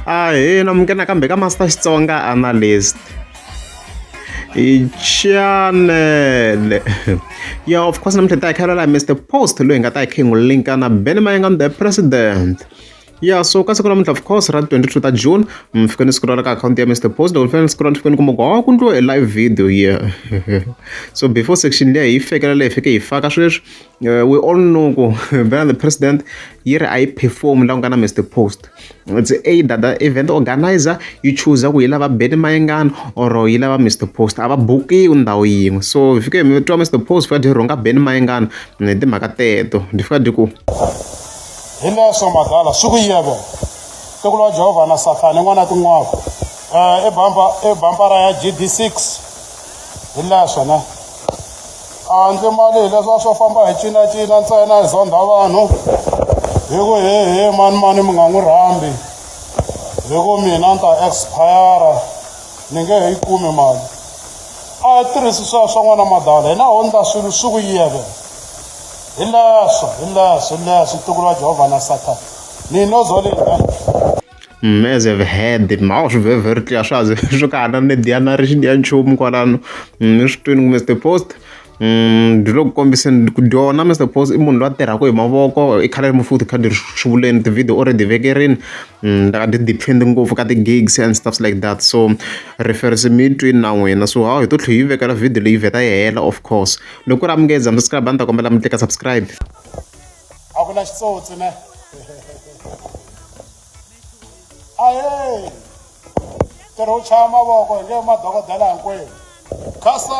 ahina muke nakambe ka master xitsonga analyst chanele ya of course namuntlha ta hi khalela mr post loyi hi nga ta hi khe hi n'wi linka na bene mayengam the president ya so ka siku namuntlha of course ra 22 ta june mi fike ni scrolla ka akhawunti ya mr post loko ni fike ni scrolla ni fike ni kuma ku hawa ku ndliwa e live video ye so before section leyi hi fekela leyi fike hi faka sweswi Uh, we all know ku vana the president yi ri a yi perform la ku nga na mr post it's either the event organizer yi chooser ku yi lava beni mayengani or yi lava mr post a va bukiwi ndhawu yin'we so hi fike mi twa mr post fika dyi rhunga beni mayengani hi timhaka teto dyi fika dyi ku hi leswo madala swi ku yebo tiko lwa jehovha na sathana n'wana tin'waka um eh, i bambara ya gd six hi leswo ne handle mali hi leswa swo famba hi cinacina ntsena hi zondha vanhu hi ku hehe mani mani mi nga n'wi rhambi hi ku mina ni ta expire ni nge he yi kumi mali a yi tirhisi sweswo swa n'wana madala hina ho ndla swilo swi ku yeve hi leswo hi leswo hi leswo tiko ra jehovha na sathana ni no zolina Mm, as I've heard it mhawu swi very very clear swa ze swo ka hana ni diya na ri xi diya nchumu kwalano mm, ni swi twini ku mr post mm, ndzi lo ku kombiseni ku dyona mr post i munhu loyi a tirhaka hi mavoko i khale ri mufuthi khadi ri xivuleni ti-video o ri ti vekerini ndaka ti depend ngopfu ka ti-gigs and stuffs like that so reference mi yi twini na n'wina so hawu hi to tlhe yi vekela video leyi vheta yi hela of course loko ku ri amukeza mi subscribe a ni ta kombela mi tleka subscribe a ku na xitsotsi ne ahe ntirho wu chaya mavoko hi nge madokodela hinkwenu khasa